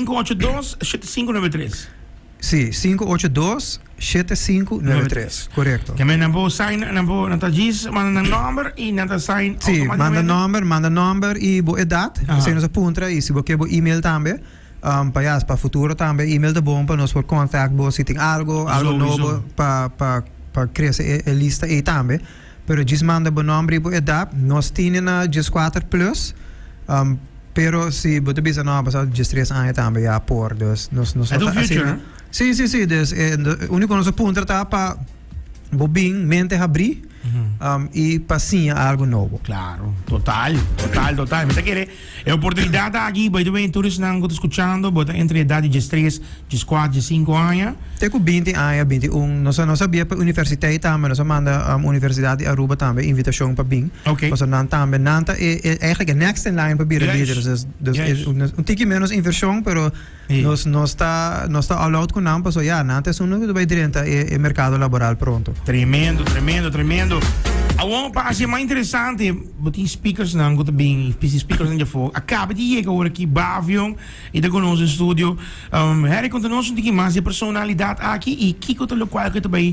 582-7593. Sí, 582-7593. Correcto. Keme nan bo sign, nan bo nan ta jis, manda nan nomber y nan ta sign Sí, manda automáticamente. nomber, manda nomber y bo edad. Aha. Asina nos a puntra y si bo kier bo email tambe. Um, pa ya, pa futuro tambe email ta bon pa nos por contact bo si tin algo, algo Sowieso. nobo pa pa pa crece e e lista ey tambe. Pero djis manda bo nomber y bo edad. Nos tine na djis kuater plus, pero si bo ta bisa no, a basa djis tres aña tambe ya por. Dus nos no ta asina. Si, si, si. Dus e uniko nos a puntra ta pa bo bin mente habri y pa siña algo nobo. Claro, total, total, total. Mi ta kere E oportunidat aki bai ta bini tur esnan ku ta skuchando, bo ta entre edat di diestres, dieskuat, diesinku aña. Te ku binti aña, binti un. Nos a nos a bia pa universiteit tambe, nos a manda Universidad di Aruba tambe invitashon pa bin, pasobra nan tambe, nan ta e, e, eigenlijk e next in line pa bira lideres. Dus, dus e un tiki menos invershon, pero. Nos nos ta nos ta all out ku nan paso ya nan ta esun nan ku ta bai drenta e merkado laboral pronto. Tremendo, tremendo, tremendo. Awor pa hasi e mas interesante bo tin speakersnan ku ta bini i pisi speakersnan dje for. A kaba di yega awor aki Bavion i ta ku nos den studio. Harry konta nos un tiki mas di e personalidat aki i kiko ta lokual ku e ta bai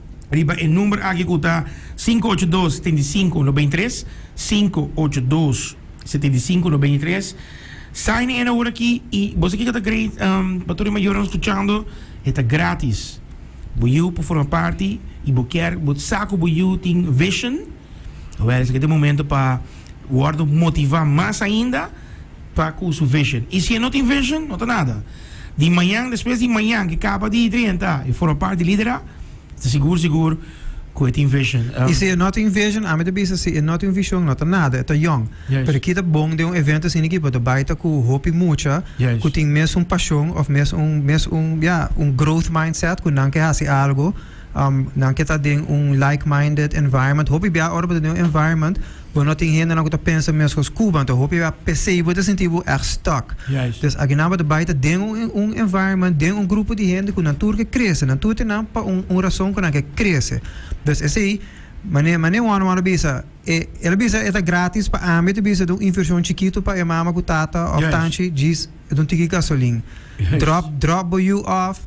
riba e number aki cu ta sinku ocho dos, setenta i sinku, nobenta i tres, sinku ocho dos, setenta i sinku, nobenta i tres. Sign in ahora aki y bos aki cu ta grade ehm pa tur e mayornan scuchando e ta gratis. Bo yiu por forma parti y bo kier, bo sa cu bo yiu tin vision. Awor esaki ta e momento pa wordo motiva mas ainda pa cu su vision. Y si e no tin vision, no ta nada. Di mañan, despues di mañan cu e caba di drenta, e forma parti di lidera, ta sigur sigur cu e tin vision. Y si e no tin vision, ami ta bisa si e no tin vision, no ta nada, e ta yong. Juist. Pero ki ta bon den un evento asina aki, bo ta bay ta cu hopi mucha Juist. cu tin mes un pasion of mes un, mes un, ya, un growth mindset cu nan ke haci algo. Nan ke ta den un like-minded environment. Hopi bia ora bo ta den un environment bo no tin hendenan ku ta pensa meskos ku bo, anto hopi bia p'esei bo ta sinti bo èg stuck. Pues aki nan bo ta bai ta den un environment, den un grupo di hende ku nan tur ke krese. Nan tur tin nan pa un un rason ku nan ke krese. Pues esei mane mane Juan Juan a bisa e el a bisa e ta gratis pa ami, e ta bisa ta un invershon chikitu pa e mama ku tata òf tanchi djis e ta un tiki gasolin. Drop drop bo yu òf.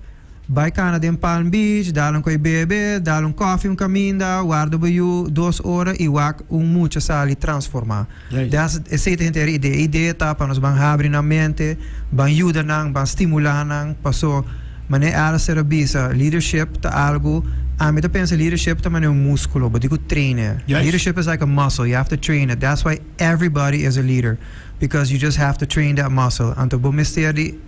Bai cana den Palm Beach, dal un coi bebe, dal un coffee un caminda, warda bo yu dos ora y wak un mucha sali transforma. Den as esey ta henter idea. E idea ta pa nos ban habri nan mente, ban yuda nan, ban stimula nan, paso mane Alistair a bisa, leadership ta algo, ami ta pensa leadership ta mane un musculo, bo tin cu train e. Leadership is like a muscle, you have to train it, that's why everybody is a leader, because you just have to train that muscle, anto bo mester di.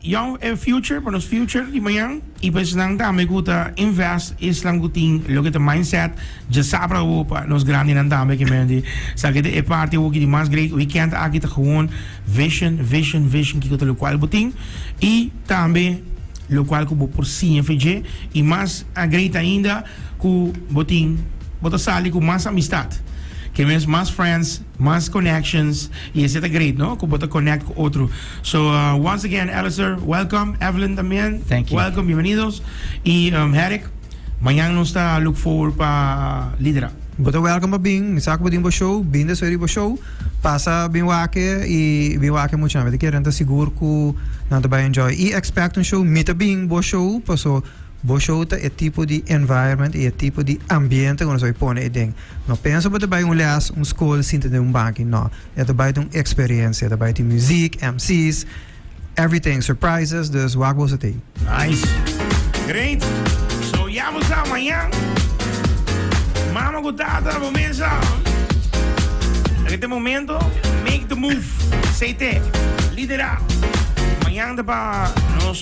Jou e future pa nos future di mañan y pa esnan tambe cu ta invest esnan cu tin loke ta mindset dja sabra awo pa nos grandinan tambe ke men di sa keda e parti awo ki di mas great weekend aki ta gewoon vision vision vision kico ta locual bo tin y tambe locual cu bo por siña fe dje y mas great ainda cu bo tin bo ta sali cu mas amistad ke mes mas friends. Mas connections y ese ta great no cu bo ta connect cu otro so once again Alister welcom Evelyn tambien welcom bienvenidos y Herick mañan nos ta look forward pa lidera. Bo ta welcom pa bin mi sa cu bo tin bo show bin despues di bo show pasa bin wake y bin wake mucha nan mi ta kere nan ta sigur cu nan ta bay enjoy y expect un show mi ta bin bo show paso Bo show ta e tipo di environment y e tipo di ambiente cu nos bai pone ey den. No pensa bo ta bay un les, un school, sinta den un banki, no. E ta bay ta un experiencia. E ta bay tin muziek, MC's, everything, surprises, dus wak boso ta ey. Nice. Great. So ya bo sa, mañan mama cu tata bo mesa na kende momento make the move. CT, lidera. Mañan ta pa nos.